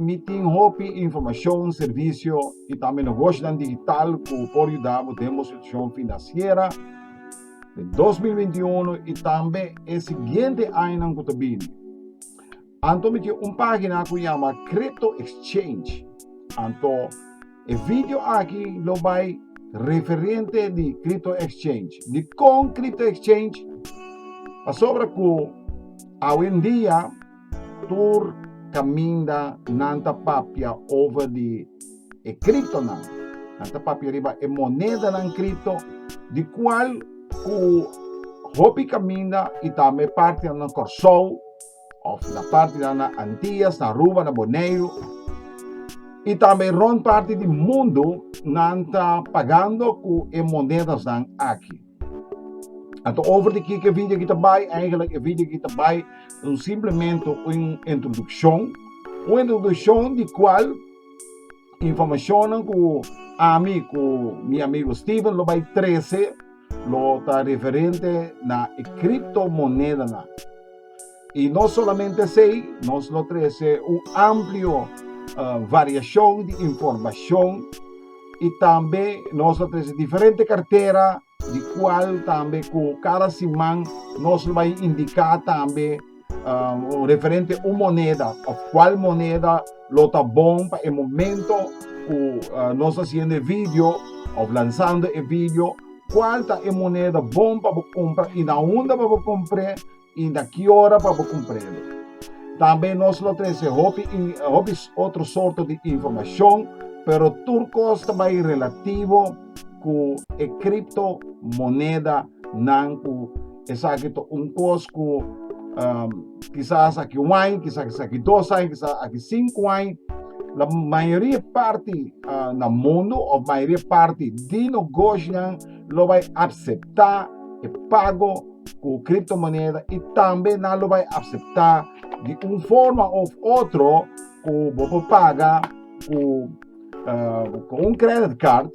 Mi tin hopi informashon, servisio i tambe negoshionan digital ku por yuda bo den bo situashon finansiera den dos mil binti uno i tambe e siguiente añanan ku ta bini. Anto mi tin un pagina ku yama Crypto Exchange. Anto e vidio aki lo bai referente di Crypto Exchange. Dikon Crypto Exchange? Pasobra ku awendia. Tur caminda nan ta papia over di e criptonan. Nan ta papia riba e monedanan cripto, di cual cu hopi caminda y tambe e partinan na Corsou, of na partinan na Antillas, na Aruba, na Boneiru, y tambe rond parti di mundo, nan ta pagando cu e monedasnan aki. Anto over di kiko e video aki ta bai? Eigenlik e video aki ta bai simplemente un introdukshon, un introdukshon di kual informashonnan ku ami ku mi amigo Steven lo bai trese lo ta referente na e kriptomonedanan. I no solamente esei, nos lo trese un amplio uh, variacion di informacion y tambe nos lo trese diferente cartera di cual tambe cu cada siman nos lo va indica tambe uh, referente un moneda of cual moneda lo ta bon pa e momento cu uh, nos haciendo video of lanzando e video cual ta e moneda bon pa bo compra y na unda pa bo compre I na ki ora pa bo kumprende? Tambe nos lo trese hopi hopi otro sorto di informashon, pero tur kos ta bai relativo ku e kripto monedanan ku esaki ta un kos ku kisas aki un aña, kisas aki dos aña, kisas aki sinku aña. La mayoria parti na mundu òf mayoria parti di nogoshonan lo bai apseptá e pago. cu criptomoneda y tambe nan lo bay acepta di un forma of otro cu bo por paga cu, uh, cu un credit card,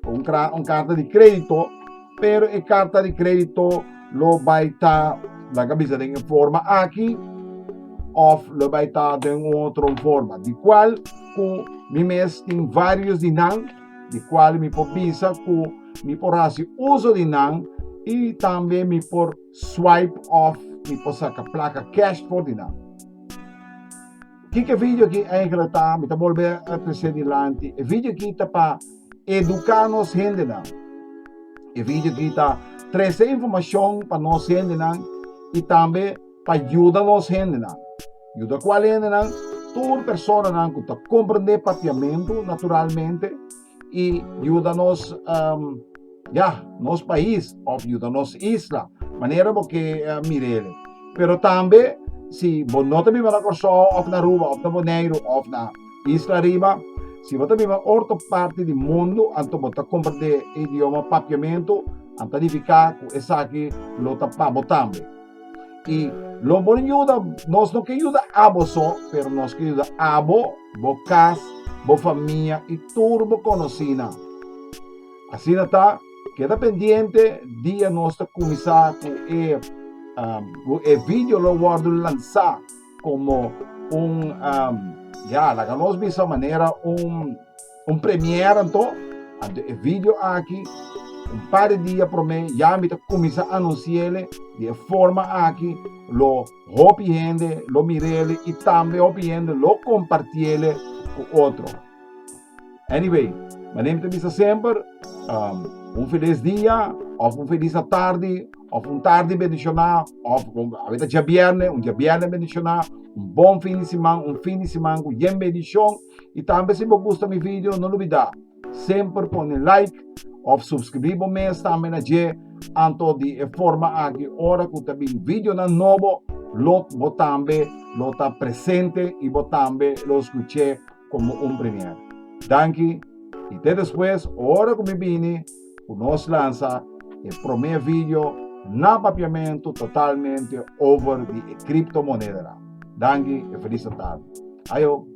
cu un, un carta di crédito, pero e carta di crédito lo bay ta, la cabeza den en forma aquí, of lo bay ta den otro forma, di cual cu mi mes tin varios di nan, di cual mi por bisa cu mi por haci uzo di nan y tambe mi por swipe of mi por saca placa cash for di nan. Kiko e video aki eigenlijk ta? Mi ta bolbe a trece dilanti. E video aki ta pa educa nos hendenan. E video aki ta trece informacion pa nos hendenan y tambe pa yuda nos hendenan. Yuda ku al hendenan, tur personanan ku ta komprendé papiamentu naturalmente i yuda nos um ya nos pais òf yuda nos isla manera bo ke mira ele. Pero tambe si bo no ta biba na Kòrsou òf na Aruba òf na Boneiru òf na isla riba, si bo ta biba otro parti di mundu anto bo ta komprendé e idioma papiamentu, a ta nifiká ku esaki lo ta pa bo tambe. Y lo por yuda, nos no ke yuda abo so, pero nos ke yuda abo, bo kas, bo famia y tur bo konosínan. Asina ta, keda pendiente dia nos ta kuminsá ku e, um, ku e video lo wòrdu lansá. Como un, um, ya, laga nos bisa manera un, un premier anto, anto e video aki, un par de dia prome, ya mi ta cuminsa anunciele di e forma aki, lo hopi hende lo mirele y tambe hopi hende lo compartiele cu otro. Anyway, manera mi ta bisa semper, um, un felis dia, of un felis atardi, of un tardi bendishoná, of un, awe ta dja bierne, un dja bierne bendishoná, un bon fin di siman, un fin di siman ku yen bendishon. I tambe si bo gusta mi video, no lubidá semper pone like of supskribí bo mes tambe na dje, anto di e forma aki ora ku ta bin videonan nobo lo bo tambe lo ta presente i bo tambe lo skuch'é. komo un primièr. Danki, i te despues ora ku mi bini ku nos lansa e promé video na papiamentu totalmente over di e kriptomonedera. Danki e felis Natal. Ayo!